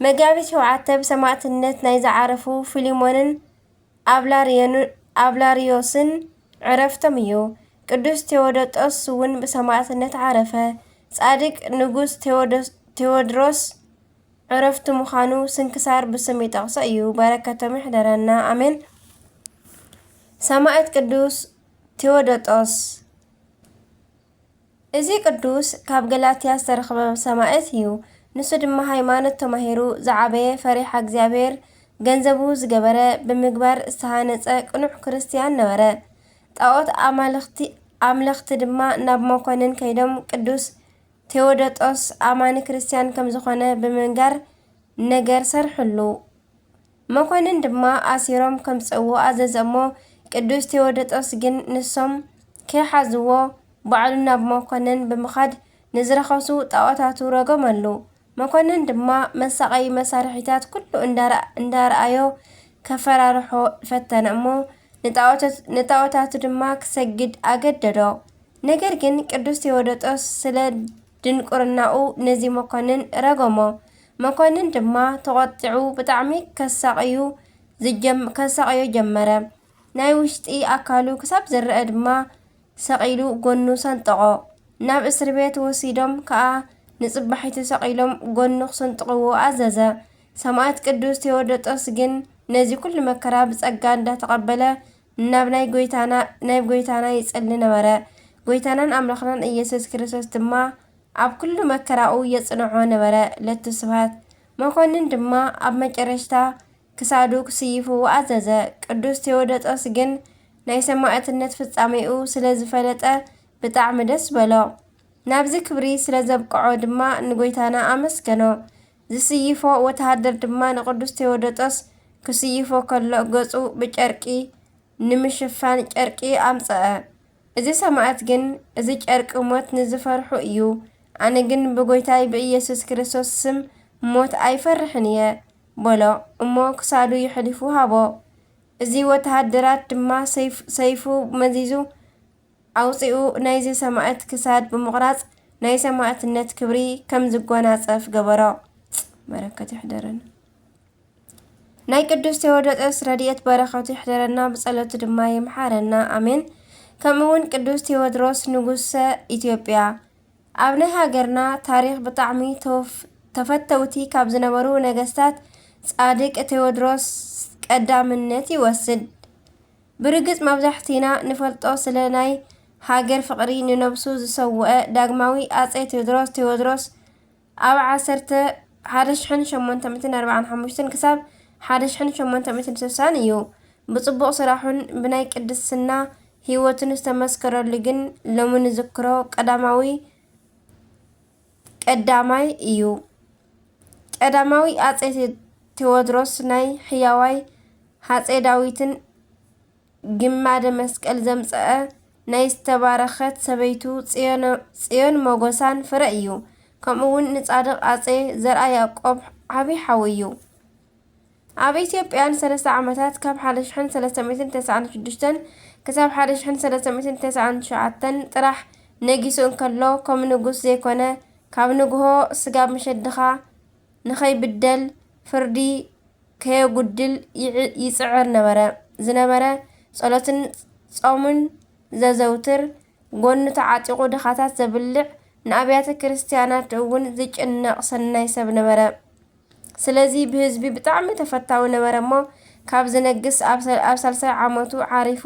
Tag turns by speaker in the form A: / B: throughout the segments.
A: መጋቢት ሸውዓተ ብሰማእትነት ናይ ዝዓረፉ ፊሊሞንን ኣብላርዮስን ዕረፍቶም እዩ። ቅዱስ ቴዎዶጦስ እውን ብሰማእትነት ዓረፈ። ጻድቅ ንጉስ ቴዎድሮስ ዕረፍቱ ምዃኑ ስንክሳር ብስም ይጠቕሶ እዩ። በረከቶም ይሕደረና ኣሜን። ሰማእት ቅዱስ ቴዎዶጦስ እዚ ቅዱስ ካብ ገላትያ ዝተረኽበ ሰማእት እዩ። ንሱ ድማ ሃይማኖት ተማሂሩ ዝዓበየ ፈሪሓ እግዚኣብሔር ገንዘቡ ዝገበረ ብምግባር ዝተሃነፀ ቅኑዕ ክርስትያን ነበረ። ጣኦት ኣማልኽቲ ኣምለኽቲ ድማ ናብ መኮንን ከይዶም ቅዱስ ቴዎዶጦስ ኣማኒ ክርስትያን ከምዝኾነ ብምንጋር ነገር ሰርሕሉ። መኮንን ድማ ኣሲሮም ከምጽእዎ ኣዘዘ እሞ ቅዱስ ቴዎደጦስ ግን ንሶም ከይሓዝዎ ባዕሉ ናብ መኮንን ብምኻድ ንዝረኸሱ ጣዖታቱ ረገመሉ። መኮንን ድማ መሳቐዪ መሳርሒታት ኩሉ እንዳርኣዮ ከፈራርሖ ፈተነ እሞ ንጣዖታቱ ድማ ክሰግድ ኣገደዶ። ነገር ግን ቅዱስ ቴዎደጦስ ስለ ድንቁርናኡ ነዚ መኮንን ረገሞ። መኮንን ድማ ተቖጢዑ ብጣዕሚ ከሳቕዩ ዝጀም ከሳቕዮ ጀመረ። ናይ ውሽጢ ኣካሉ ክሳብ ዝረኣ ድማ ሰቒሉ ጎኑ ሰንጠቖ። ናብ እስርቤት ወሲዶም ከኣ ንጽባሒቱ ሰቒሎም ጎኑ ክስንጥቕዎ ኣዘዘ። ሰማእት ቅዱስ ቴዎዶጦስ ግን ነዚ ኩሉ መከራ ብጸጋ እንዳተቐበለ ናብ ናይ ጎይታና ናይ ጎይታና ይጸሊ ነበረ። ጎይታናን ኣምላኽናን ኢየሱስ ክርስቶስ ድማ ኣብ ኩሉ መከራኡ የጽንዖ ነበረ። ለቱ ስብሐት። መኮንን ድማ ኣብ መጨረሽታ ክሳዱ ክስይፉ ኣዘዘ። ቅዱስ ቴዎዶጦስ ግን ናይ ሰማዕትነት ፍጻሜኡ ስለ ዝፈለጠ ብጣዕሚ ደስ በሎ። ናብዚ ክብሪ ስለ ዘብቅዖ ድማ ንጎይታና ኣመስገኖ። ዝስይፎ ወተሃደር ድማ ንቅዱስ ቴዎዶጦስ ክስይፎ ከሎ ገጹ ብጨርቂ ንምሽፋን ጨርቂ ኣምጸኣ። እዚ ሰማእት ግን እዚ ጨርቂ ሞት ንዝፈርሑ እዩ፣ ኣነ ግን ብጎይታይ ብኢየሱስ ክርስቶስ ስም ሞት ኣይፈርሕን እየ በሎ እሞ ክሳዱ የሕሊፉ ሃቦ። እዚ ወተሃደራት ድማ ሰይፉ መዚዙ ኣውጺኡ ናይዚ ሰማእት ክሳድ ብምቑራጽ ናይ ሰማእትነት ክብሪ ከም ዝጎናጸፍ ገበሮ። በረከቱ ይሕደረና። ናይ ቅዱስ ቴዎዶጦስ ረድኤት በረከቱ ይሕደረና ብጸሎቱ ድማ ይምሓረና ኣሜን። ከምኡውን ቅዱስ ቴዎድሮስ ንጉሰ ኢትዮጵያ ኣብ ናይ ሃገርና ታሪኽ ብጣዕሚ ተወፍ ተፈተውቲ ካብ ዝነበሩ ነገስታት ጻድቅ ቴዎድሮስ ቀዳምነት ይወስድ። ብርግጽ መብዛሕቲና ንፈልጦ ስለ ናይ ሃገር ፍቅሪ ንነብሱ ዝሰወኣ ዳግማዊ ኣጼ ትውድሮስ፣ Tewodros፣ ኣብ ዓሰርተ ሓደ ሽሕን ሸሞንተ ሚእትን ኣርብዓን ሓሙሽተን ክሳብ ሓደ ሽሕን ሸሞንተ ሚእትን ስሳን እዩ። ብጽቡቅ ስራሑን ብናይ ቅድስና ሂወቱን ዝተመስከረሉ ግን ሎሚ ንዝክሮ ቀዳማዊ ቀዳማይ እዩ። ቀዳማዊ ኣጼ ቴዎድሮስ ናይ ሕያዋይ ሃጼ ዳዊትን ግማደ መስቀል ዘምጸኣ ናይ ዝተባረኸት ሰበይቱ ጽዮን ሞገሳን ፍረ እዩ። ከምኡውን ንጻድቕ ኣጼ ዘርኣያቆብ ዓቢ ሓው እዩ። ኣብ ኢትዮጵያ ንሰለስተ ዓመታት ካብ ሓደ ሽሕን ሰለስተ ሚእትን ተስዓን ሽዱሽተን ክሳብ ሓደ ሽሕን ሰለስተ ሚእትን ተስዓን ትሽዓተን ጥራሕ ነጊሱ እንከሎ ከም ንጉስ ዘይኮነ ካብ ንግሆ ስጋብ መሸድኻ ንኸይብደል ፍርዲ ከየጉድል ይጽዕር ነበረ ዝነበረ ጸሎትን ጾምን ዘዘውትር ጎኑ ተዓጢቑ ድኻታት ዘብልዕ ንኣብያተ ክርስትያናት እውን ዝጭነቕ ሰናይ ሰብ ነበረ። ስለዚ ብህዝቢ ብጣዕሚ ተፈታዊ ነበረ እሞ ካብ ዝነግስ ኣብ ሳልሳይ ዓመቱ ዓሪፉ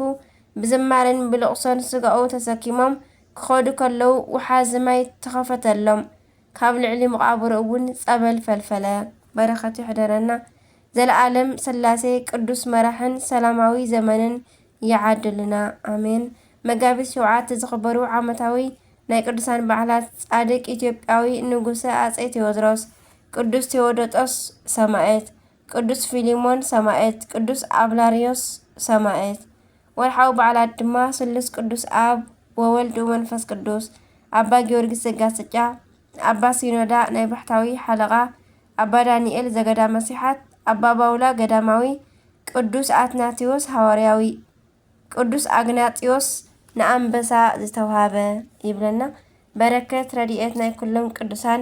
A: ብዝማሬን ብልቕሶን ስጋኡ ተሰኪሞም ክኸዱ ከለዉ ውሓዚ ማይ ተኸፈተሎም ካብ ልዕሊ መቓብሩ እውን ፀበል ፈልፈለ። በረከቱ ይሕደረና ዘለኣለም ስላሴ ቅዱስ መራሕን ሰላማዊ ዘመንን ይዓድልና ኣሜን። መጋቢት ሸውዓተ ዝኽበሩ ዓመታዊ ናይ ቅዱሳን በዓላት ጻድቅ ኢትዮጵያዊ ንጉሰ ኣጼ ቴዎድሮስ ቅዱስ ቴዎዶጦስ ሰማእት፣ ቅዱስ ፊሊሞን ሰማእት፣ ቅዱስ ኣብላርዮስ ሰማእት። ወርሓዊ በዓላት ድማ ስሉስ ቅዱስ ኣብ ወወልድ ወመንፈስ ቅዱስ፣ ኣባ ጊዮርጊስ ዘጋስጫ፣ ኣባ ሲኖዳ ናይ ባሕታዊ ሓለቓ፣ ኣባ ዳንኤል ዘገዳመ ሲሓት፣ ኣባ ባውላ ገዳማዊ፣ ቅዱስ ኣትናቴዎስ ሃዋርያዊ፣ ቅዱስ ኣግናጢዮስ፣ ንኣንበሳ ዝተውሃበ ይብለና። በረከት ረድኤት ናይ ኩሎም ቅዱሳን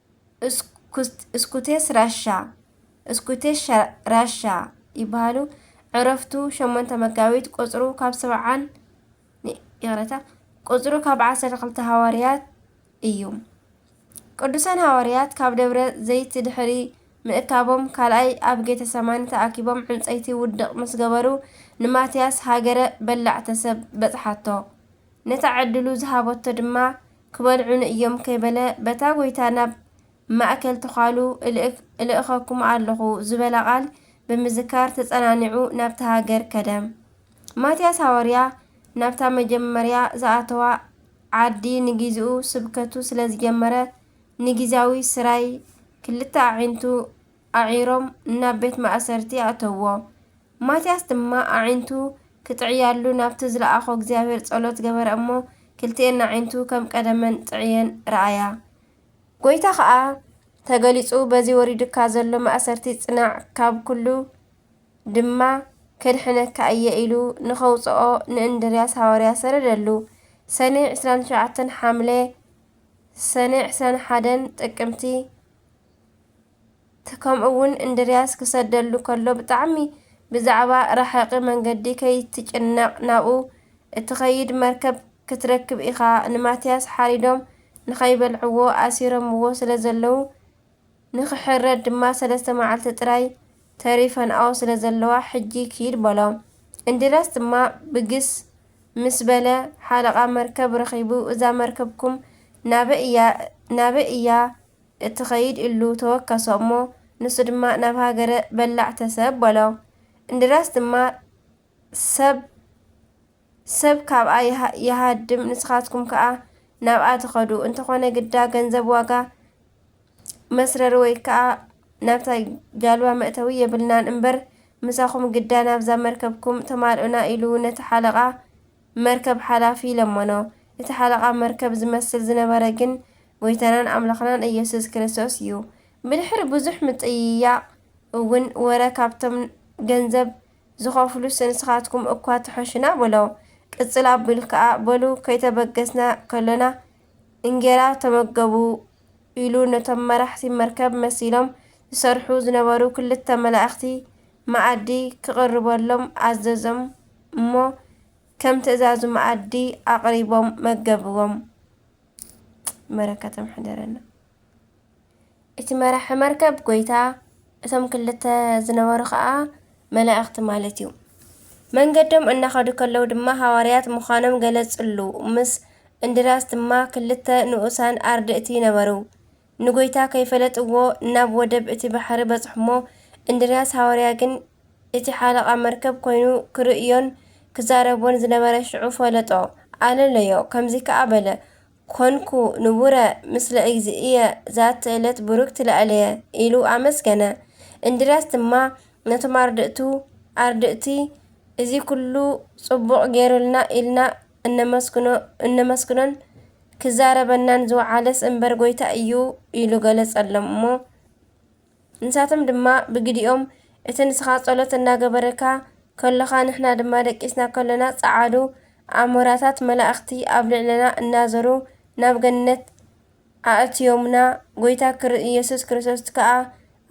A: እስኩቴስ ራሻ፣ Scutesh Rasha፣ ይበሃሉ። ዕረፍቱ ሸሞንተ መጋቢት ቁጽሩ ካብ ሰብዓን ይቕረታ ቁጽሩ ካብ ዓሰርተ ክልተ ሃዋርያት እዩ። ቅዱሳን ሃዋርያት ካብ ደብረ ዘይት ድሕሪ ምእካቦም ካልኣይ ኣብ ጌተ ሰማኒ ተኣኪቦም ዕንጸይቲ ውድቕ ምስ ገበሩ ንማትያስ ሃገረ በላዕተ ሰብ በጽሓቶ። ነታ ዕድሉ ዝሃበቶ ድማ ክበልዑኒ እዮም ከይበለ በታ ጐይታ ናብ ማእከል ተዃሉ እልእከኩም ኣለኹ ዝበላ ቃል ብምዝካር ተጸናኒዑ ናብታ ሃገር ከደ። ማትያስ ሃዋርያ ናብታ መጀመርያ ዝኣተዋ ዓዲ ንጊዚኡ ስብከቱ ስለ ዝጀመረ ንጊዚያዊ ስራይ ክልተ ኣዒንቱ ኣዒሮም ናብ ቤት ማእሰርቲ ኣእተውዎ። ማትያስ ድማ ኣዒንቱ ክጥዕያሉ ናብቲ ዝለኣኾ እግዚኣብሔር ጸሎት ገበረ እሞ ክልቲኤን ኣዒንቱ ከም ቀደመን ጥዕየን ረኣያ። ጐይታ ኸኣ ተገሊጹ በዚ ወሪዱካ ዘሎ ማእሰርቲ ጽናዕ ካብ ኩሉ ድማ ከድሕነካ እየ ኢሉ ንኸውጽኦ ንእንድርያስ ሃዋርያ ሰደደሉ። ሰኔ ዕስራን ትሽዓተን ሓምለ ሰኔ ዕስራን ሓደን ጥቅምቲ። ከምኡ ውን እንድርያስ ክሰደሉ ከሎ ብጣዕሚ ብዛዕባ ራሕቂ መንገዲ ከይትጭነቅ ናብኡ እትኸይድ መርከብ ክትረክብ ኢኻ ንማትያስ ሓሪዶም ንኸይበልዕዎ ኣሲሮምዎ ስለዘለዉ ንኽሕረድ ድማ ሰለስተ መዓልቲ ጥራይ ተሪፈንኦ ስለዘለዋ ሕጂ ኪድ በሎ እንድርያስ ድማ ብግስ ምስ በለ ሓለቓ መርከብ ረኺቡ እዛ መርከብኩም ናበይ እያ ናበይ እያ እትኸይድ እሉ ተወከሶ እሞ ንሱ ድማ ናብ ሃገረ በላዕ ተሰብ በሎ እንድርያስ ድማ ሰብ ሰብ ካብኣ ይሃድም ንስኻትኩም ከኣ ናብኣ ትኸዱ እንተኾነ ግዳ ገንዘብ ዋጋ መስረሪ ወይ ከኣ ናብታ ጃልባ መእተዊ የብልናን እምበር ምሳኹም ግዳ ናብዛ መርከብኩም ተማልኡና ኢሉ ነቲ ሓለቓ መርከብ ሓላፊ ለመኖ። እቲ ሓለቓ መርከብ ዝመስል ዝነበረ ግን ጐይታናን ኣምላኽናን ኢየሱስ ክርስቶስ እዩ። ብድሕሪ ብዙሕ ምጥይያቕ እውን ወረ ካብቶም ገንዘብ ዝኸፍሉስ ንስኻትኩም እኳ ትሐሹና በሎ። ቅጽል ኣቢሉ ከኣ በሉ ከይተበገስና ከሎና እንጌራ ተመገቡ ኢሉ ነቶም መራሕቲ መርከብ መሲሎም ዝሰርሑ ዝነበሩ ክልተ መላእኽቲ መኣዲ ክቕርበሎም ኣዘዞም። እሞ ከም ትእዛዙ መኣዲ ኣቕሪቦም መገብዎም። በረከቶም ሕደረና። እቲ መራሒ መርከብ ጎይታ፣ እቶም ክልተ ዝነበሩ ኸኣ መላእኽቲ ማለት እዩ። መንገዶም እናኸዱ ከለዉ ድማ ሃዋርያት ምዃኖም ገለጽሉ፣ ምስ እንድርያስ ድማ ክልተ ንኡሳን ኣርድእቲ ነበሩ። ንጐይታ ከይፈለጥዎ ናብ ወደብ እቲ ባሕሪ በጽሑ'ሞ፣ እንድርያስ ሃዋርያ ግን እቲ ሓለቓ መርከብ ኰይኑ ክርእዮን ክዛረቦን ዝነበረ ሽዑ ፈለጦ፣ ኣለለዮ፣ ከምዚ ከኣ በለ፣ ኰንኩ ንቡረ ምስለ እግዚእየ ዛቲ እለት ቡርክት ለእለየ ኢሉ ኣመስገነ። እንድርያስ ድማ ነቶም ኣርድእቱ፣ ኣርድእቲ እዚ ኩሉ ጽቡቕ ገይሩልና ኢልና እነመስግኖን ክዛረበናን ዝወዓለስ እምበር ጎይታ እዩ ኢሉ ገለጸሎም እሞ ንሳቶም ድማ ብግዲኦም እቲ ንስኻ ጸሎት እናገበረካ ከሎኻ ንሕና ድማ ደቂስና ከሎና ጸዓዱ ኣሞራታት መላእኽቲ ኣብ ልዕለና እናዘሩ ናብ ገነት ኣእትዮምና፣ ጎይታ ክር ኢየሱስ ክርስቶስት ከኣ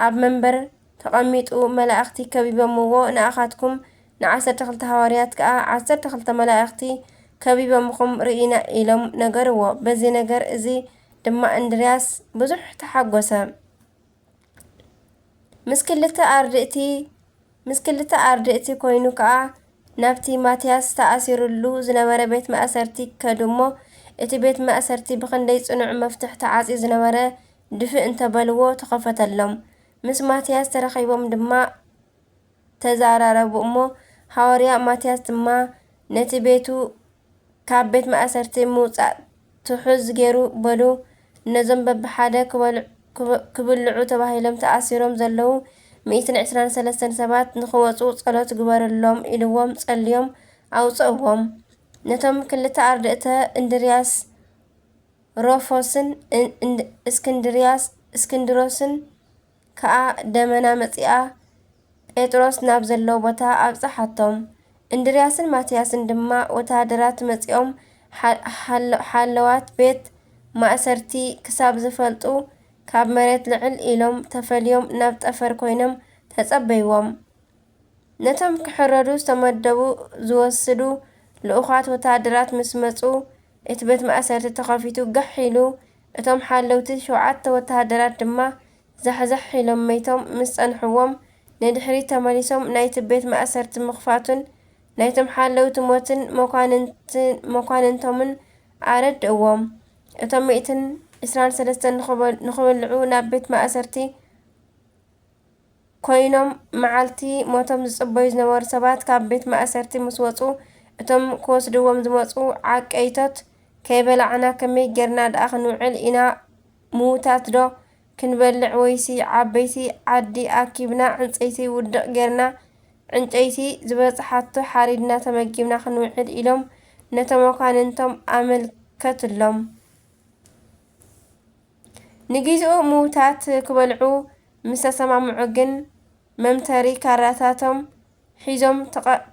A: ኣብ መንበር ተቐሚጡ መላእኽቲ ከቢቦምዎ ንኣኻትኩም ንዓሰርተ ክልተ ሃዋርያት ከኣ ዓሰርተ ክልተ መላእኽቲ ከቢቦምኹም ርኢና ኢሎም ነገርዎ በዚ ነገር እዚ ድማ እንድርያስ ብዙሕ ተሓጎሰ። ምስ ክልተ ኣርድእቲ ምስ ክልተ ኣርድእቲ ኮይኑ ከኣ ናብቲ ማትያስ ተኣሲሩሉ ዝነበረ ቤት ማእሰርቲ ከዱ እሞ እቲ ቤት ማእሰርቲ ብኽንደይ ጽኑዕ መፍትሕ ተዓጽዩ ዝነበረ ድፍእ እንተበልዎ ተኸፈተሎም። ምስ ማትያስ ተራኺቦም ድማ። ተዛራረቡ እሞ፣ ሃዋርያ ማትያስ ድማ ነቲ ቤቱ ካብ ቤት ማእሰርቲ ምውጻእ ትሑዝ ገይሩ በሉ። ነዞም በብሓደ ክብልዑ ተባሂሎም ተኣሲሮም ዘለዉ ሚእትን ዕስራን ሰለስተን ሰባት ንኽወጹ ጸሎት ግበርሎም ኢልዎም ጸልዮም ኣውጸእዎም። ነቶም ክልተ ኣርድእተ እንድርያስ ሮፎስን እስክንድርያስ እስክንድሮስን ከኣ ደመና መጺኣ ጴጥሮስ ናብ ዘለዎ ቦታ ኣብጽሓቶም። እንድርያስን ማትያስን ድማ ወተሃደራት መጺኦም ሓለዋት ቤት ማእሰርቲ ክሳብ ዝፈልጡ ካብ መሬት ልዕል ኢሎም ተፈልዮም ናብ ጠፈር ኮይኖም ተጸበይዎም። ነቶም ክሕረዱ ዝተመደቡ ዝወስዱ ልኡኻት ወተሃደራት ምስ መጹ፣ እቲ ቤት ማእሰርቲ ተኸፊቱ ጋሕ ኢሉ፣ እቶም ሓለውቲ ሸውዓተ ወተሃደራት ድማ ዛሕዛሕ ኢሎም መይቶም ምስ ጸንሕዎም፣ ንድሕሪት ተመሊሶም ናይቲ ቤት ማእሰርቲ ምኽፋቱን ናይቶም ሓለውቲ ሞትን መኳንንቶምን ኣረድእዎም። እቶም ሚእትን ዕስራን ሰለስተን ንኽብልዑ ናብ ቤት ማእሰርቲ። ኰይኖም መዓልቲ ሞቶም ዝጽበዩ ዝነበሩ ሰባት ካብ ቤት ማእሰርቲ ምስ ወጹ፣ እቶም ክወስድዎም ዝመጹ ዓቀይቶት፣ ከይበላዕና ከመይ ጌርና ደኣ ክንውዕል ኢና፣ ምዉታትዶ ክንበልዕ ወይሲ ዓበይቲ ዓዲ ኣኪብና ዕንጸይቲ ውድቕ ጌርና ዕንጨይቲ ዝበጽሓቶ ሓሪድና ተመጊብና ክንውዕል ኢሎም ነቶም መኳንንቶም ኣመልከትሎም። ንጊዚኡ ምዉታት ክበልዑ ምስ ተሰማምዑ ግን መምተሪ ካራታቶም ሒዞም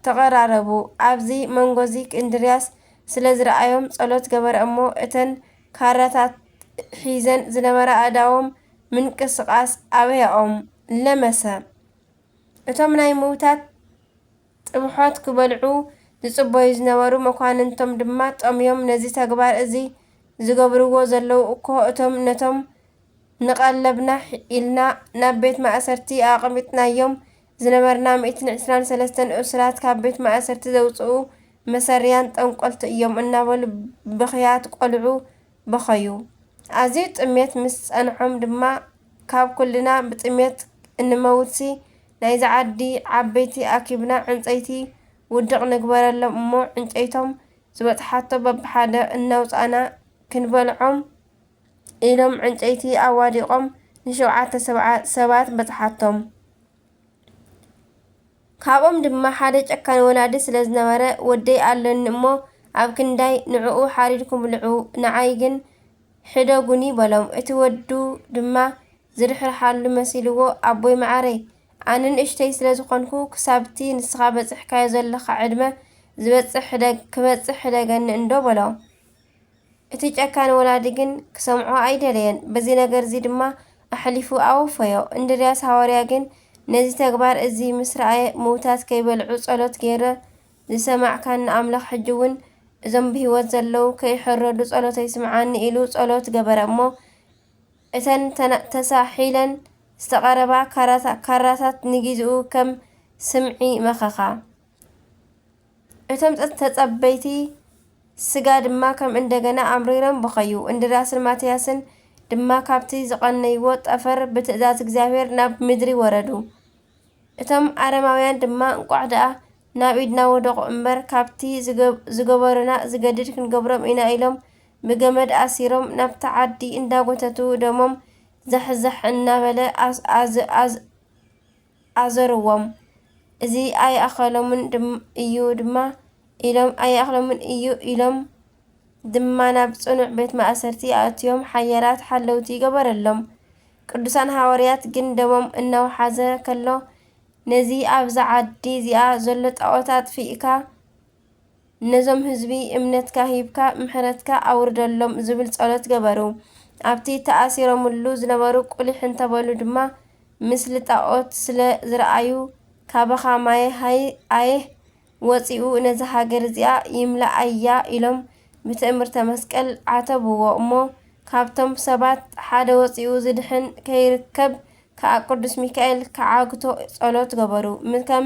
A: ተቐራረቡ። ኣብዚ መንጎዚ እንድርያስ ስለ ዝረኣዮም ጸሎት ገበረ እሞ እተን ካራታት ሒዘን ዝነበራ ኣእዳዎም ምንቅስቓስ ኣብያኦም። ለመሰ። እቶም ናይ ምዉታት ጥብሖት ክበልዑ ዝጽበዩ ዝነበሩ መኳንንቶም ድማ ጠምዮም ነዚ ተግባር እዚ ዝገብርዎ ዘለዉ እኮ እቶም ነቶም ንቀለብና ኢልና ናብ ቤት ማእሰርቲ ኣቐሚጥናዮም ዝነበርና ሚእትን ዕስራን ሰለስተን እሱራት ካብ ቤት ማእሰርቲ ዘውጽኡ መሰሪያን ጠንቆልቲ እዮም እናበሉ ብኽያት ቆልዑ በኸዩ። ኣዝዩ ጥሜት ምስ ጸንሖም ድማ ካብ ኩልና ብጥሜት እንመውትሲ ናይዚ ዓዲ ዓበይቲ ኣኪብና ዕንጸይቲ ውድቕ ንግበረሎም እሞ ዕንጨይቶም ዝበጽሓቶ በብሓደ እናውጻእና ክንበልዖም ኢሎም ዕንጨይቲ ኣዋዲቖም ንሸውዓተ ሰባት በጽሓቶም። ካብኦም ድማ ሓደ ጨካን ወላዲ ስለ ዝነበረ ወደይ ኣሎኒ እሞ ኣብ ክንዳይ ንዕኡ ሓሪድኩም ብልዑ ንዓይ ግን ሕደጉኒ በሎም እቲ ወዱ ድማ ዝርሕርሓሉ መሲልዎ ኣቦይ መዓረይ ኣነ ንእሽተይ ስለ ዝኾንኩ ክሳብቲ ንስኻ በጽሕካዮ ዘለኻ ዕድመ ዝበጽሕ ሕደግ ክበጽሕ ሕደገኒ እንዶ በሎ እቲ ጨካን ወላዲ ግን ክሰምዖ ኣይደለየን፣ በዚ ነገርዚ ድማ ኣሕሊፉ ኣወፈዮ። እንድርያስ ሃዋርያ ግን ነዚ ተግባር እዚ ምስ ረኣየ ምውታት ከይበልዑ ጸሎት ገይረ ዝሰማዕካኒ ኣምላኽ ሕጂውን እዞም ብህይወት ዘለዉ ከይሕረዱ ጸሎተይ ስምዓኒ ኢሉ ጸሎት ገበረ እሞ እተን ተሳሒለን ዝተቐረባ ካራታት ንጊዚኡ ከም ስምዒ መኸኻ። እቶም ተጸበይቲ ስጋ ድማ ከም እንደገና ኣምሪሮም በኸዩ። እንድርያስን ማትያስን ድማ ካብቲ ዝቐነይዎ ጠፈር ብትእዛዝ እግዚኣብሔር ናብ ምድሪ ወረዱ። እቶም ኣረማውያን ድማ እንቋዕ ደኣ ናብ ኢድና ወደቑ እምበር ካብቲ ዝገበሩና ዝገድድ ክንገብሮም ኢና ኢሎም ብገመድ ኣሲሮም ናብቲ ዓዲ እንዳጎተቱ ደሞም ዛሕዛሕ እናበለ ኣዞርዎም። እዚ ኣይኣኸሎምን እዩ ድማ ኢሎም ኣይኣኽሎምን እዩ ኢሎም ድማ ናብ ጽኑዕ ቤት ማእሰርቲ ኣእትዮም ሓያላት ሓለውቲ ገበረሎም። ቅዱሳን ሃዋርያት ግን ደሞም እናውሓዘ ከሎ ነዚ ኣብዛ ዓዲ እዚኣ ዘሎ ጣዖት ኣጥፊእካ ነዞም ህዝቢ እምነትካ ሂብካ ምሕረትካ ኣውርደሎም ዝብል ጸሎት ገበሩ። ኣብቲ ተኣሲሮምሉ ዝነበሩ ቁሊሕ እንተበሉ ድማ ምስሊ ጣኦት ስለ ዝረኣዩ ካባኻ ማየ ሃይ ኣየህ ወጺኡ ነዛ ሃገር እዚኣ ይምለኣያ ኢሎም ብትእምርተ መስቀል ዓተብዎ እሞ ካብቶም ሰባት ሓደ ወጺኡ ዝድሕን ከይርከብ ከኣ ቅዱስ ሚካኤል ክዓግቶ ጸሎት ገበሩ ከም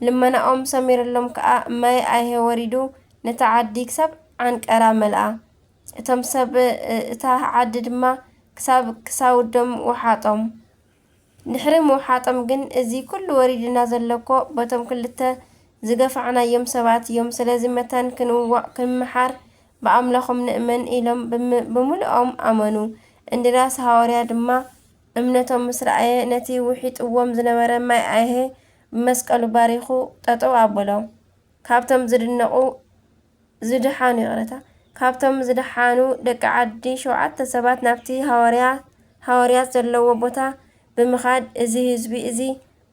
A: ልመናኦም ሰሚርሎም ከኣ ማይ ኣይሀ ወሪዱ ነታ ዓዲ ክሳብ ዓንቀራ መልኣ። እቶም ሰብ እታ ዓዲ ድማ ክሳብ ክሳውዶም ወሓጦም። ድሕሪ ምውሓጦም ግን እዚ ኩሉ ወሪዱና ዘሎ እኮ በቶም ክልተ ዝገፋዕናዮም ሰባት እዮም ስለዚ መታን ክንዋእ ክንመሓር ብኣምላኾም ንእመን ኢሎም ብምሉኦም ኣመኑ። እንድርያስ ሃወርያ ድማ እምነቶም ምስ ረኣየ ነቲ ውሒጥዎም ዝነበረ ማይ ኣይሀ ብመስቀሉ ባሪኹ ጠጠው ኣበሎም ካብቶም ዝድነቁ ዝድሓኑ ይቅረታ ካብቶም ዝድሓኑ ደቂ ዓዲ ሸውዓተ ሰባት ናብቲ ሃዋርያ ሃዋርያት ዘለዎ ቦታ ብምኻድ እዚ ህዝቢ እዚ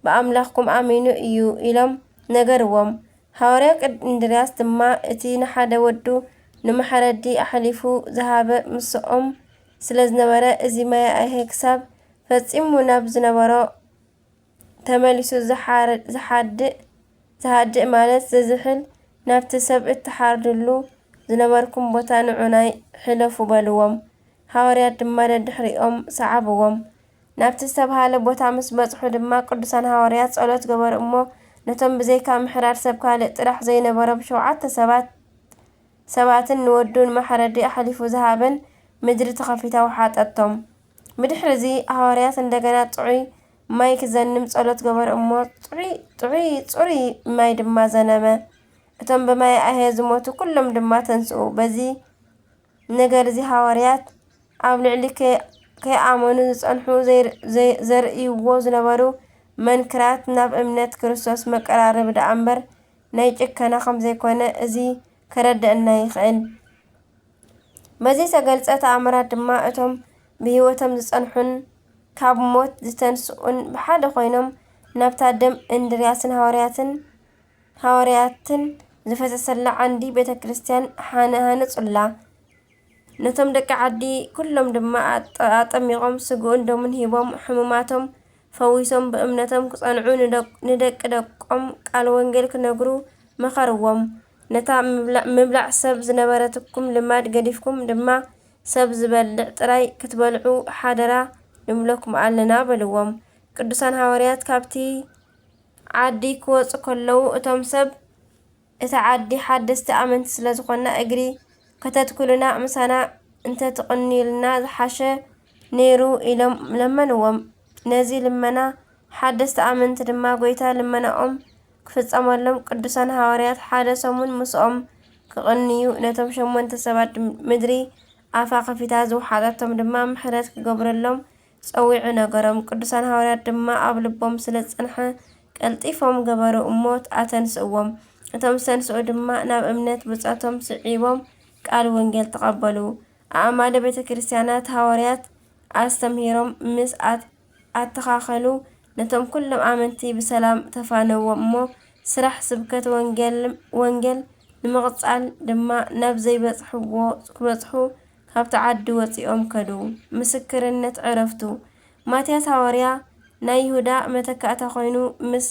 A: ብኣምላኽኩም ኣሚኑ እዩ ኢሎም ነገርዎም ሃዋርያ ቅድ እንድርያስ ድማ እቲ ንሓደ ወዱ ንመሐረዲ ኣሐሊፉ ዝሃበ ምሰኦም ስለዝነበረ እዚ ማያኤሄ ክሳብ ፈጺሙ ናብ ዝነበሮ ተመሊሱ ዝሓድእ፣ ዝሃድእ ማለት ዝዝሕል፣ ናብቲ ሰብ እትሓርድሉ ዝነበርኩም ቦታ ንዑናይ ሕለፉ በልዎም። ሃዋርያት ድማ ደድሕሪኦም ሰዓብዎም። ናብቲ ዝተብሃለ ቦታ ምስ በጽሑ ድማ ቅዱሳን ሃዋርያት ጸሎት ገበሩ እሞ ነቶም ብዘይካ ምሕራድ ሰብ ካልእ ጥራሕ ዘይነበሮም ሸውዓተ ሰባት ሰባትን ንወዱ ንመሓረዲ ኣሕሊፉ ዝሃበን ምድሪ ተኸፊታ ወሓጠቶም። ብድሕርዚ ሃዋርያት እንደገና ጥዑይ ማይ ክዘንም ጸሎት ገበረ እሞ ጽዑይ ጽዑይ ጽሩይ ማይ ድማ ዘነመ። እቶም ብማይ ኣሄ ዝሞቱ ኩሎም ድማ ተንስኡ። በዚ ነገር እዚ ሃዋርያት ኣብ ልዕሊ ከ- ከይኣመኑ ዝጸንሑ ዘይ- ዘይ- ዘርእይዎ ዝነበሩ መንክራት ናብ እምነት ክርስቶስ መቀራረቢ ደኣ እምበር ናይ ጭከና ከም ዘይኮነ እዚ ከረድአና ይኽእል። በዚ ዝተገልጸ ተኣምራት ድማ እቶም ብህይወቶም ዝጸንሑን ካብ ሞት ዝተንስኡን ብሓደ ኮይኖም ናብታ ደም እንድርያስን ሃዋርያትን ሃዋርያትን ዝፈሰሰላ ዓንዲ ቤተ ክርስቲያን ሃነጹላ። ነቶም ደቂ ዓዲ ኩሎም ድማ ኣጠሚቖም ስግኡን ደሙን ሂቦም ሕሙማቶም ፈዊሶም ብእምነቶም ክጸንዑ ንደቂ ደቆም ቃል ወንጌል ክነግሩ መኸርዎም። ነታ ምብላዕ ሰብ ዝነበረትኩም ልማድ ገዲፍኩም ድማ ሰብ ዝበልዕ ጥራይ ክትበልዑ ሓደራ ንብለኩም ኣለና በልዎም ቅዱሳን ሃዋርያት ካብቲ ዓዲ ክወጹ ከለዉ እቶም ሰብ እታ ዓዲ ሓደስቲ ኣመንቲ ስለ ዝኾንና እግሪ ከተትኩሉና ምሳና እንተ ትቕንዩልና ዝሓሸ ነይሩ ኢሎም ለመንዎም ነዚ ልመና ሓደስቲ ኣመንቲ ድማ ጎይታ ልመናኦም ክፍጸመሎም ቅዱሳን ሃዋርያት ሓደ ሰሙን ምስኦም ክቕንዩ ነቶም ሸሞንተ ሰባት ምድሪ ኣፋ ከፊታ ዝወሓጠቶም ድማ ምሕረት ክገብረሎም ጸዊዑ ነገሮም ቅዱሳን ሃዋርያት ድማ ኣብ ልቦም ስለ ዝጸንሐ ቀልጢፎም ገበሩ እሞ ኣተንስእዎም እቶም ዝተንስኡ ድማ ናብ እምነት ብጾቶም ስዒቦም ቃል ወንጌል ተቐበሉ ኣእማደ ቤተ ክርስቲያናት ሃዋርያት ኣስተምሂሮም ምስ ኣተኻኸሉ፣ ነቶም ኩሎም ኣመንቲ ብሰላም ተፋነዎም እሞ ስራሕ ስብከት ወንጌል ንምቕጻል ድማ ናብ ዘይበጽሕዎ ክበጽሑ ካብቲ ዓዲ ወጺኦም ከዱ። ምስክርነት ዕረፍቱ፣ ማትያስ ሃዋርያ ናይ ይሁዳ መተካእታ ኮይኑ ምስ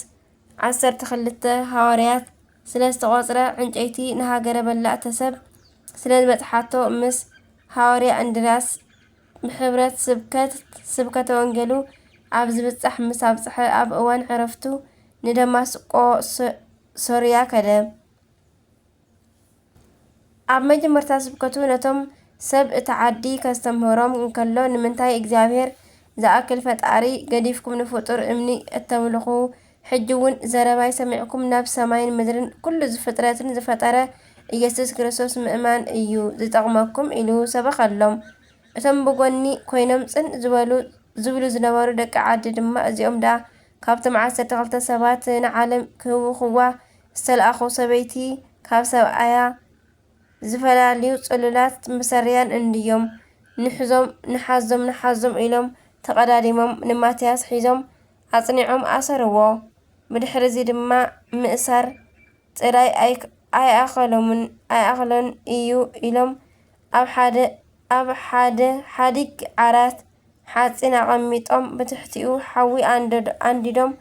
A: ዓሰርተ ክልተ ሃዋርያት ስለ ዝተቖጽረ ዕንጨይቲ ንሃገረ በላእተ ሰብ ስለ ዝበጽሓቶ ምስ ሃዋርያ እንድርያስ ንሕብረት ስብከት ስብከተ ወንጌሉ ኣብ ዝብጻሕ ምስ ኣብጽሐ፣ ኣብ እዋን ዕረፍቱ ንደማስቆ ሶርያ ከደ። ኣብ መጀመርታ ስብከቱ ነቶም ሰብ እታ ዓዲ ከስተምህሮም እንከሎ ንምንታይ እግዚኣብሔር ዝኣክል ፈጣሪ ገዲፍኩም ንፍጡር እምኒ እተምልኹ ሕጂ ውን ዘረባይ ሰሚዕኩም ናብ ሰማይን ምድርን ኩሉ ዝፍጥረትን ዝፈጠረ ኢየሱስ ክርስቶስ ምእማን እዩ ዝጠቕመኩም ኢሉ ሰበኸሎም። እቶም ብጎኒ ኮይኖም ጽን ዝበሉ ዝብሉ ዝነበሩ ደቂ ዓዲ ድማ እዚኦም ድኣ ካብቶም ዓሰርተ ክልተ ሰባት ንዓለም ክህውኽዋ ዝተልኣኹ ሰበይቲ ካብ ሰብኣያ ዝፈላልዩ ጽሉላት መሰሪያን እንድዮም ንሕዞም ንሓዞም ንሓዞም ኢሎም ተቐዳዲሞም ንማትያስ ሒዞም ኣጽኒዖም ኣሰርዎ። ብድሕርዚ ድማ ምእሳር ጥራይ ኣይኣኸሎምን ኣይኣኸሎን እዩ ኢሎም ኣብ ሓደ ኣብ ሓደ ሓዲግ ዓራት ሓጺን ኣቐሚጦም ብትሕቲኡ ሓዊ ኣንዲዶም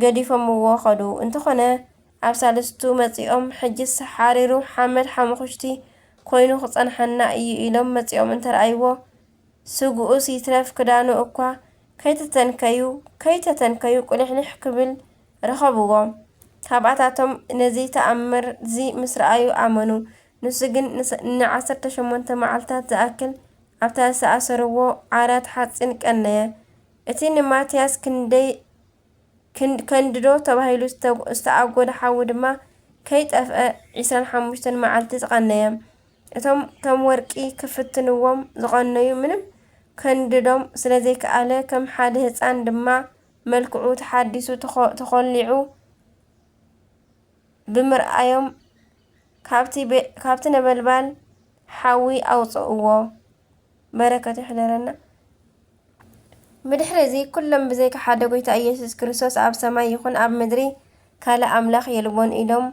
A: ገዲፎምዎ ከዱ። እንተኾነ ኣብ ሳልስቱ መጺኦም ሕጅስ ሓሪሩ ሓመድ ሓሙኹሽቲ ኮይኑ ክጸንሓና እዩ ኢሎም መጺኦም እንተርኣይዎ ስግኡስ ይትረፍ ክዳኑ እኳ ከይተተንከዩ ከይተተንከዩ ቁሊሕሊሕ ክብል ረኸብዎ። ካብኣታቶም ነዚ ተኣምር'ዚ ምስ ረኣዩ ኣመኑ። ንሱ ግን ንዓሰርተ ሸሞንተ መዓልታት ዝኣክል ኣብታ ዝኣሰርዎ ዓራት ሓጺን ቀነየ። እቲ ንማትያስ ክንደይ ክንድዶ ተባሂሉ ዝተኣጎደ ሓዊ ድማ ከይጠፍኣ ዒስራን ሓሙሽተን መዓልቲ ዝቐነየም እቶም ከም ወርቂ ክፍትንዎም ዝቐነዩ ምንም ከንድዶም ስለዘይከኣለ ከም ሓደ ህፃን ድማ መልክዑ ተሓዲሱ ተኾሊዑ ብምርኣዮም ካብቲ ነበልባል ሓዊ ኣውፅእዎ። በረከቱ ይሕደረና። ብድሕሪ እዚ ኩሎም ብዘይካ ሓደ ጎይታ ኢየሱስ ክርስቶስ ኣብ ሰማይ ይኹን ኣብ ምድሪ ካልእ ኣምላኽ የልቦን ኢሎም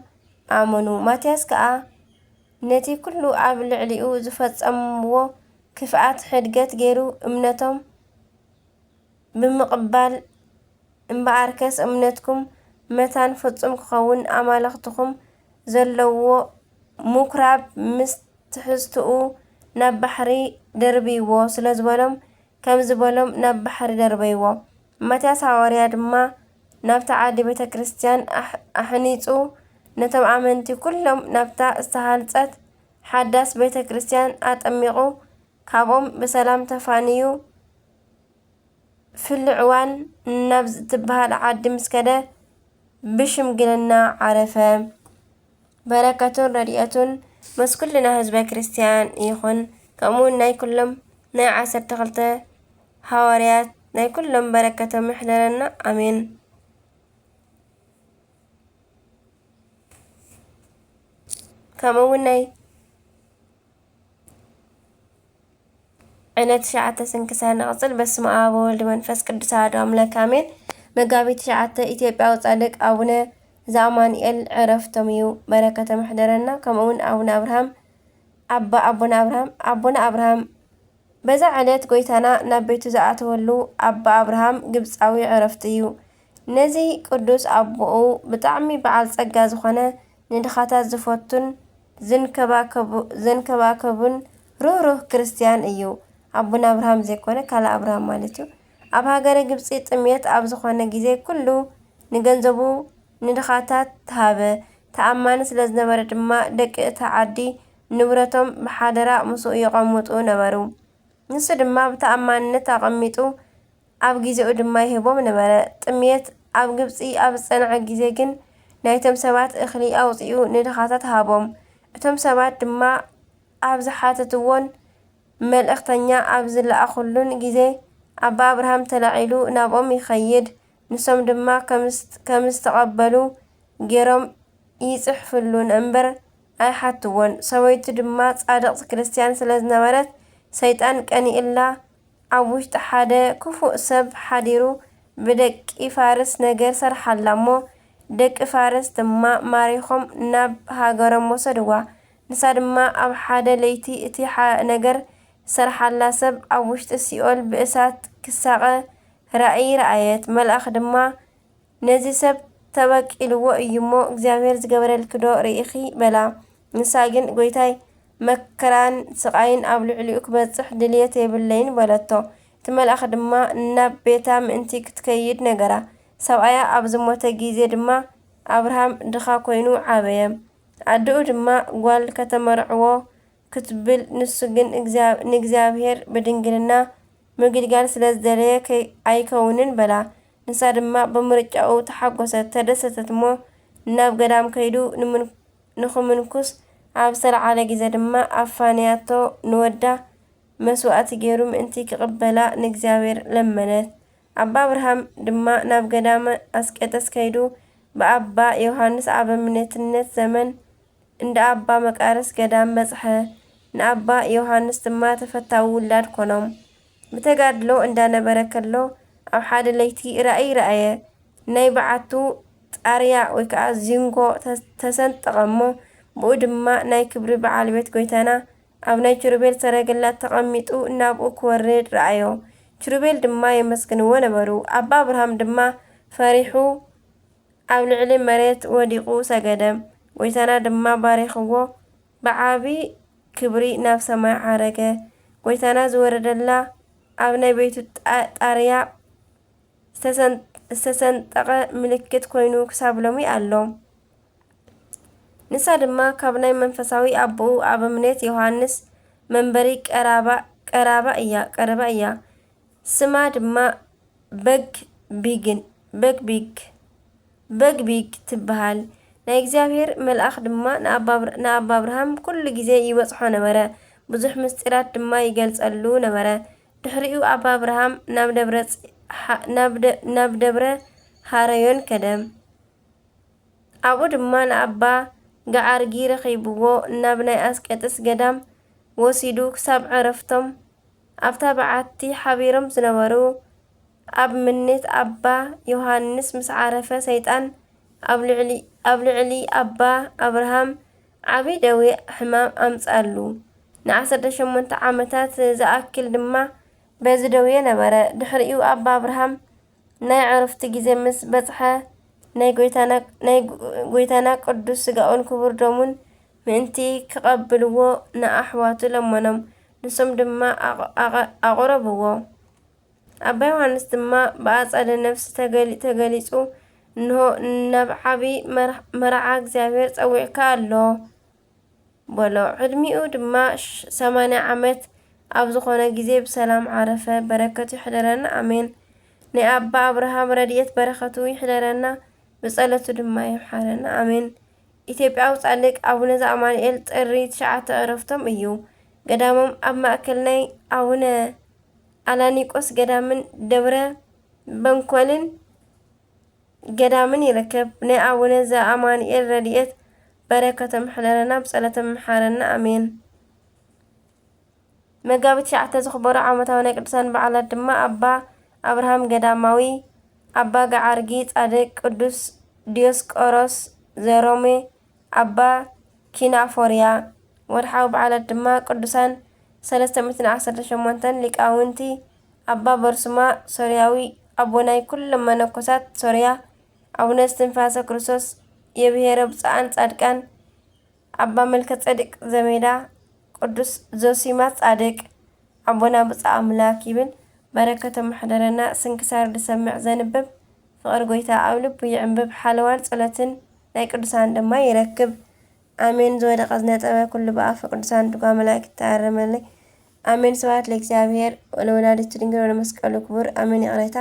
A: ኣመኑ። ማትያስ ከኣ ነቲ ኩሉ ኣብ ልዕሊኡ ዝፈጸምዎ ክፍኣት ሕድገት ገይሩ እምነቶም ብምቕባል እምበኣርከስ እምነትኩም መታን ፍጹም ክኸውን ኣማልኽትኹም ዘለውዎ ምኵራብ ምስ ትሕዝትኡ ናብ ባሕሪ ደርብይዎ ስለ ዝበሎም ከምዚ በሎም ናብ ባሕሪ ደርበይዎ። ማትያስ ሓዋርያ ድማ ናብታ ዓዲ ቤተ ክርስቲያን ኣሕኒጹ ነቶም ኣመንቲ ኩሎም ናብታ ዝተሃንጸት ሓዳስ ቤተ ክርስቲያን ኣጠሚቑ ካብኦም ብሰላም ተፋንዩ ፍሉዕ እዋን ናብ ዝትበሃል ዓዲ ምስ ከደ ብሽምግልና ዓረፈ። በረከቱን ረድኤቱን ምስ ኩልና ህዝበ ክርስቲያን ይኹን። ከምኡውን ናይ ኩሎም ናይ ዓሰርተ ክልተ ሃዋርያት ናይ ኩሎም በረከቶም ይሕደረና ኣሜን። ከምኡውን ናይ ዕለት ትሽዓተ ስንክሳር ንቅጽል በስመ ኣብ ወወልድ መንፈስ ቅዱስ ኣሐዱ ኣምላክ ኣሜን መጋቢት ትሽዓተ ኢትዮጵያዊ ጻድቅ ኣቡነ ዘኣማኑኤል ዕረፍቶም እዩ በረከቶም ይሕደረና ከምኡ ውን ኣቡነ ኣብርሃም ኣባ ኣቡነ ኣብርሃም ኣቡነ ኣብርሃም በዛ ዕለት ጎይታና ናብ ቤቱ ዝኣተወሉ ኣባ ኣብርሃም ግብጻዊ ዕረፍቱ እዩ ነዚ ቅዱስ ኣቦኡ ብጣዕሚ በዓል ጸጋ ዝኾነ ንድኻታት ዝፈቱን ዝንከባከቡ ዘንከባከቡን ርህሩህ ክርስትያን እዩ ኣቡነ ኣብርሃም ዘይኮነ ካልእ ኣብርሃም ማለት እዩ ኣብ ሃገረ ግብጺ ጥምየት ኣብ ዝኾነ ግዜ ኩሉ ንገንዘቡ ንድኻታት ሃበ ተኣማኒ ስለ ዝነበረ ድማ ደቂ እታ ዓዲ ንብረቶም ብሓደራ ምስኡ የቐምጡ ነበሩ ንሱ ድማ ብተኣማንነት ኣቐሚጡ ኣብ ግዜኡ ድማ ይህቦም ነበረ። ጥምየት ኣብ ግብጺ ኣብ ዝጸንዐ ግዜ ግን ናይቶም ሰባት እኽሊ ኣውጺኡ ንድኻታት ሃቦም። እቶም ሰባት ድማ ኣብ ዝሓተትዎን መልእኽተኛ ኣብ ዝለኣኹሉን ግዜ ኣባ ኣብርሃም ተላዒሉ ናብኦም ይኸይድ፣ ንሶም ድማ ከም ዝተቐበሉ ገይሮም ይጽሕፍሉ እምበር ኣይሓትዎን። ሰበይቱ ድማ ጻድቕት ክርስትያን ስለ ዝነበረት ሰይጣን ቀኒኡላ ኣብ ውሽጢ ሓደ ክፉእ ሰብ ሓዲሩ ብደቂ ፋርስ ነገር ሰርሓላ እሞ ደቂ ፋርስ ድማ ማሪኾም ናብ ሃገሮም ወሰድዋ ንሳ ድማ ኣብ ሓደ ለይቲ እቲ ነገር ዝሰርሓላ ሰብ ኣብ ውሽጢ ሲኦል ብእሳት ክሳቐ ራእይ ረኣየት መልኣኽ ድማ ነዚ ሰብ ተበቂልዎ እዩ እሞ እግዚኣብሄር ዝገበረልኪ ዶ ርኢኺ በላ። ንሳ ግን ጎይታይ መከራን ስቓይን ኣብ ልዕሊኡ ክበጽሕ ድልየት የብለይን በለቶ። እቲ መልኣኽ ድማ ናብ ቤታ ምእንቲ ክትከይድ ነገራ። ሰብኣያ ኣብ ዝሞተ ግዜ ድማ ኣብርሃም ድኻ ኮይኑ ዓበየ። ኣደኡ ድማ ጓል ከተመርዕዎ ክትብል ንሱ ግን ንእግዚኣብሄር ብድንግልና ምግልጋል ስለ ዝደለየ ኣይከውንን በላ። ንሳ ድማ ብምርጫኡ ተሓጎሰት፣ ተደሰተት እሞ ናብ ገዳም ከይዱ ንኽምንኩስ ኣብ ዝተልዓለ ግዜ ድማ ኣፋንያቶ ንወዳ መስዋእቲ ገይሩ ምእንቲ ክቕበላ ንእግዚኣብሔር ለመነት። ኣባ ኣብርሃም ድማ ናብ ገዳመ ኣስቄጥስ ከይዱ ብኣባ ዮሓንስ ኣበምኔትነት ዘመን እንዳ ኣባ መቃርስ ገዳም በጽሐ፣ ንኣባ ዮሓንስ ድማ ተፈታዊ ውላድ ኮኖም። ብተጋድሎ እንዳነበረ ከሎ ኣብ ሓደ ለይቲ ራእይ ረኣየ። ናይ በዓቱ ጣርያ ወይ ከኣ ዚንጎ ተሰንጠቐ እሞ ብኡ ድማ ናይ ክብሪ በዓል ቤት ጎይታና ኣብ ናይ ችሩቤል ሰረገላ ተቐሚጡ ናብኡ ክወርድ ረኣዮ። ችሩቤል ድማ የመስግንዎ ነበሩ። ኣባ ኣብርሃም ድማ ፈሪሑ ኣብ ልዕሊ መሬት ወዲቑ ሰገደ። ጎይታና ድማ ባሪኽዎ ብዓቢ ክብሪ ናብ ሰማይ ዓረገ። ጐይታና ዝወረደላ ኣብ ናይ ቤቱ ጣርያ ዝተሰንጠቐ ምልክት ኮይኑ ክሳብ ሎሚ ኣሎ። ንሳ ድማ ካብ ናይ መንፈሳዊ ኣቦኡ ኣበምኔት ዮሃንስ መንበሪ ቀራባ እያ። ስማ ድማ በግ ቢግ፣ Big Big፣ በግቢ ትበሃል። ናይ እግዚኣብሄር መልኣኽ ድማ ንኣባ ኣብርሃም ኵሉ ጊዜ ይበጽሖ ነበረ፣ ብዙሕ ምስጢራት ድማ ይገልጸሉ ነበረ። ድሕሪኡ ኣባ ኣብርሃም ናብ ደብረ ኀረዮን ከደ፣ ኣብኡ ድማ ንኣባ ገኣርጊ ረኺብዎ፣ ናብ ናይ ኣስቄጥስ ገዳም ወሲዱ ክሳብ ዕረፍቶም ኣብታ በዓቲ ሓቢሮም ዝነበሩ ኣብ ምኔት ኣባ ዮሃንስ ምስ ዓረፈ ሰይጣን ኣብ ልዕሊ ኣባ ኣብርሃም ዓቢ ደዌ ሕማም ኣምጽኣሉ። ንዓሰርተ ሸሞንተ ዓመታት ዝኣክል ድማ በዚ ደዌ ነበረ። ድሕሪኡ ኣባ ኣብርሃም ናይ ዕርፍቲ ግዜ ምስ በጽሐ ናይ ጐይታና ቅዱስ ሥጋኡን ክቡር ደሙን ምእንቲ ክቐብልዎ ንኣኅዋቱ ለመኖም፣ ንሶም ድማ ኣቕረብዎ። ኣባ ዮሃንስ ድማ ብኣጸደ ነፍሲ ተገሊጹ እንሆ ናብ ዓቢ መርዓ እግዚኣብሔር ጸዊዕካ ኣሎ በሎ። ዕድሚኡ ድማ ሰማንያ ዓመት ኣብ ዝኾነ ግዜ ብሰላም ዓረፈ። በረከቱ ይሕደረና ኣሜን። ናይ ኣባ ኣብርሃም ረድኤት በረከቱ ይሕደረና ብጸለቱ ድማ ይምሓረና ኣሜን። ኢትዮጵያዊ ጻድቅ ኣቡነ ዘኣማኑኤል ጥሪ ትሽዓተ ዕረፍቶም እዩ። ገዳሞም ኣብ ማእከል ናይ ኣቡነ ኣላኒቆስ ገዳምን ደብረ በንኮልን ገዳምን ይርከብ። ናይ ኣቡነ ዘኣማኑኤል ረድኤት በረከቶም ይሕደረና ብፀሎቶም ይምሓረና ኣሜን። መጋቢት ትሽዓተ ዝኽበሩ ዓመታዊ ናይ ቅዱሳን በዓላት ድማ ኣባ ኣብርሃም ገዳማዊ፣ ኣባ ገዓርጊ ጻድቅ፣ ቅዱስ ዲዮስቆሮስ ዘሮሜ፣ ኣባ ኪናፎርያ፣ ወርሓዊ በዓላት ድማ ቅዱሳን ሰለስተ ሚእትን ዓሰርተ ሸሞንተን ሊቃውንቲ፣ ኣባ በርሱማ ሶርያዊ፣ ኣቦ ናይ ኩሎም መነኮሳት ሶርያ፣ ኣቡነ እስትንፋሰ ክርስቶስ፣ የብሔረ ብፁዓን ጻድቃን፣ ኣባ መልከጼዴቅ ዘሜዳ፣ ቅዱስ ዞሲማስ ጻድቅ ኣቦና ብጹእ ኣምላክ ይብል በረከቶም ይሕደረና ስንክሳር ዝሰምዕ ዘንብብ ፍቅሪ ጎይታ ኣብ ልቡ ይዕንብብ ሓለዋን ጸሎትን ናይ ቅዱሳን ድማ ይረክብ ኣሜን ዝወደቀ ዝነጠበ ኩሉ ብኣፈ ቅዱሳን ድጓ መላእክት ይተኣረመለይ ኣሜን ስብሐት ለእግዚኣብሔር ወለወላዲቱ ድንግል ወለመስቀሉ ክቡር ኣሜን ይቅሬታ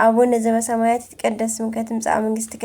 A: ኣቡነ ዘበሰማያት ይትቀደስ ስምከ ትምጻእ መንግስትከ